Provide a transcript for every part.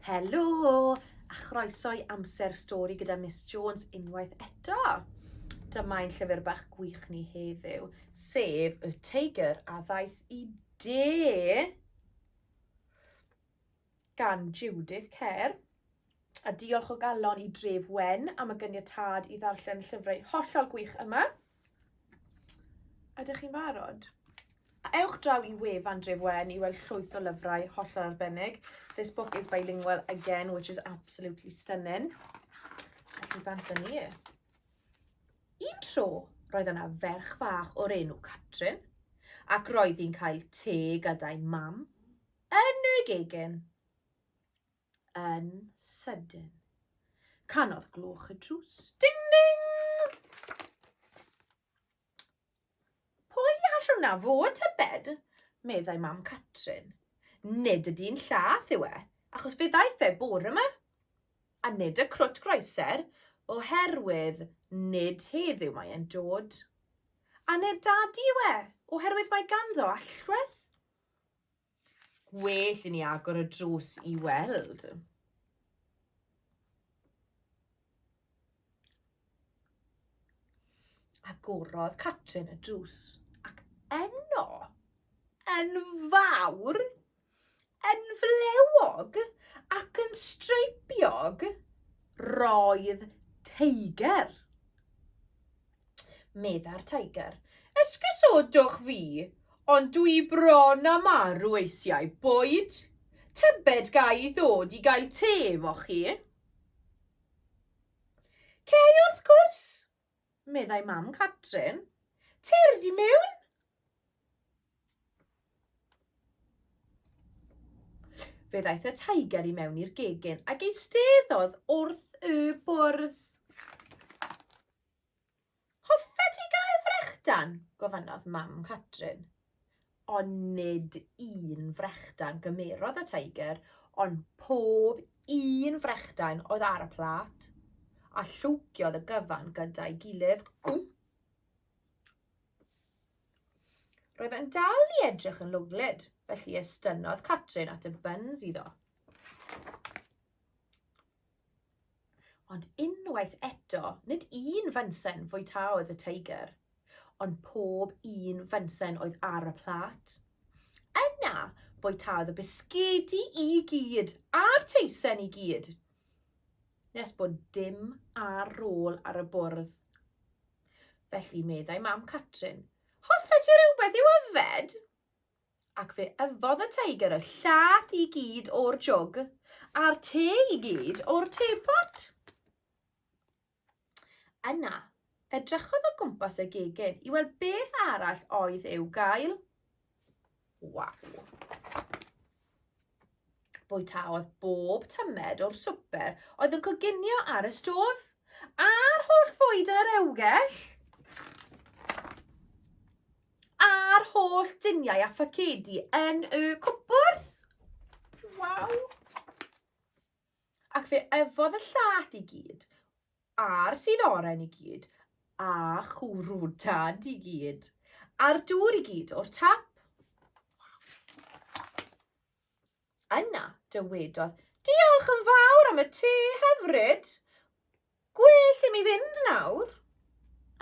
Helo, a chroeso i Amser Stori gyda Miss Jones unwaith eto. Dyma ein llyfr bach gwych ni heddiw, sef Y Teigr a Ddaeth i De gan Judith Kerr. A diolch o galon i Dref Wen am y gyniatad i ddarllen llyfrau hollol gwych yma. Ydych chi'n barod? A ewch draw i wefan Dref Wen i weld llwyth o lyfrau hollol arbennig. This book is bilingual again, which is absolutely stunning. Felly bant â ni. Un tro, roedd yna ferch fach o'r enw Catrin, ac roedd hi'n cael te gada'i mam yn y gegin. yn sydyn. Canodd gloch y drws. Ding ding! Pwy all hwnna fod, tybed? meddai mam Catrin. Nid y dyn llath yw e, achos fe ddaeth e bore yma. A nid y crwt groeser, oherwydd nid heddiw mae e'n dod. A nid dadi yw e, oherwydd mae ganddo allwedd. Gwell i ni agor y drws i weld. Agorodd Catrin y drws ac enno, yn fawr, yn flewog ac yn streipiog, roedd teiger. Medda'r Tiger. Esgusodwch fi, ond dw i bron a marw eisiau bwyd. Tybed ga i ddod i gael te efo chi? Cei wrth gwrs, meddai mam Catrin. Cerdd i mewn. Fe ddaeth y tiger i mewn i'r gegin ac eisteddodd wrth y bwrdd. Hoffet ti gael frechdan? gofynnodd mam Catrin. Ond nid un frechdan gymerodd y Tiger, ond pob un frechdan oedd ar y plât, a llwgiodd y gyfan gyda'i gilydd. Roedd e'n dal i edrych yn lwglyd, felly estynnodd Catrin at y buns iddo. Ond unwaith eto, nid un fynsen fwyta oedd y Tiger, ond pob un fynsen oedd ar y plât. Yna, bwytaodd y bisgedi i gyd, a'r teisen i gyd, nes bod dim ar rôl ar y bwrdd. Felly meddai mam Catrin, Hoffa ti rhywbeth i'w yfed? Ac fe yfodd y Tiger y llath i gyd o'r jwg, a'r te i gyd o'r tepot. Yna, edrychodd o gwmpas y gegin i weld beth arall oedd i'w gael. Waw! Bwytaodd bob tymed o'r swper oedd yn coginio ar y stof, a'r holl fwyd yn yr ewgell, a'r holl duniau a ffacedi yn y cwpwrdd. Waw! Ac fe yfodd y llat i gyd A'r sydd oren i gyd, a chwrw dad i gyd, a'r dŵr i gyd o'r tap. Yna dywedodd, Diolch yn fawr am y te hyfryd. Gwell i mi fynd nawr.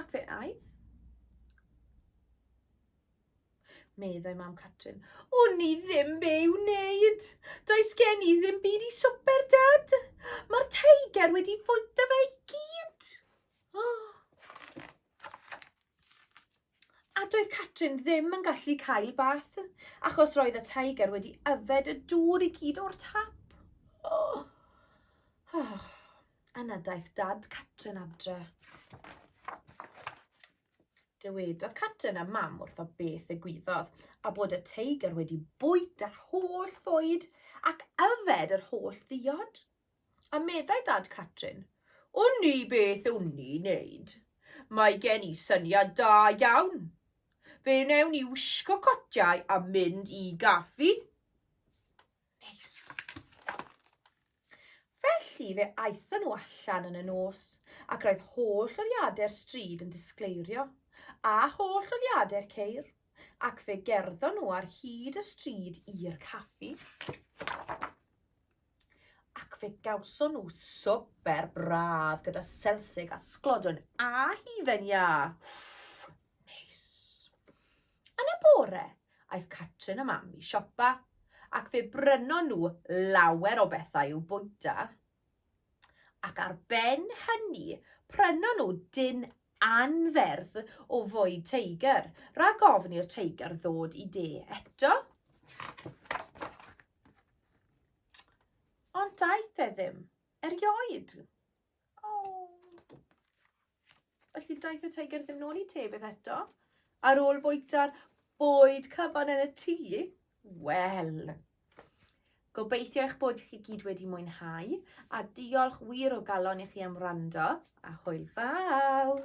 Ac fe aeth. meddai mam Catrin. Wn i ddim be i'w wneud. Does gen i ddim byd i swper, Dad. Mae'r teiger wedi fwyta fe i gyd. Oh. A doedd Catrin ddim yn gallu cael bath, achos roedd y tiger wedi yfed y dŵr i gyd o'r tap. Oh. Oh. Yna daeth dad Catrin adre. Dywedodd Catrin a Mam wrtho beth ddigwyddodd, a bod y teigr wedi bwyta'r holl fwyd ac yfed yr holl ddiod. A meddai Dad Catrin, Wn i beth wn i wneud. Mae gen i syniad da iawn. Fe wnewn i wisgo cotiau a mynd i gaffi. Neis. Felly fe aethon nhw allan yn y nos, ac roedd holl oliadau'r stryd yn disgleirio, a holl oliadau'r ceir, ac fe gerddon nhw ar hyd y stryd i'r caffi, ac fe gawson nhw swper braf gyda selsig a sglodwn a hufen iâ. Neis. Yn y bore, aeth Catrin a Mam i siopa, ac fe brynon nhw lawer o bethau i'w bwyta, ac ar ben hynny prynon nhw dyn anferth o fwyd teigr, rhag ofn i'r teigr ddod i de eto. Ond daeth e ddim erioed. Oh. Felly daeth y teigr ddim nôl i te beth eto. Ar ôl bwyta'r bwyd cyfan yn y tŷ, wel, gobeithio eich bod chi gyd wedi mwynhau a diolch wir o galon i chi am wrando a hwyl fawr!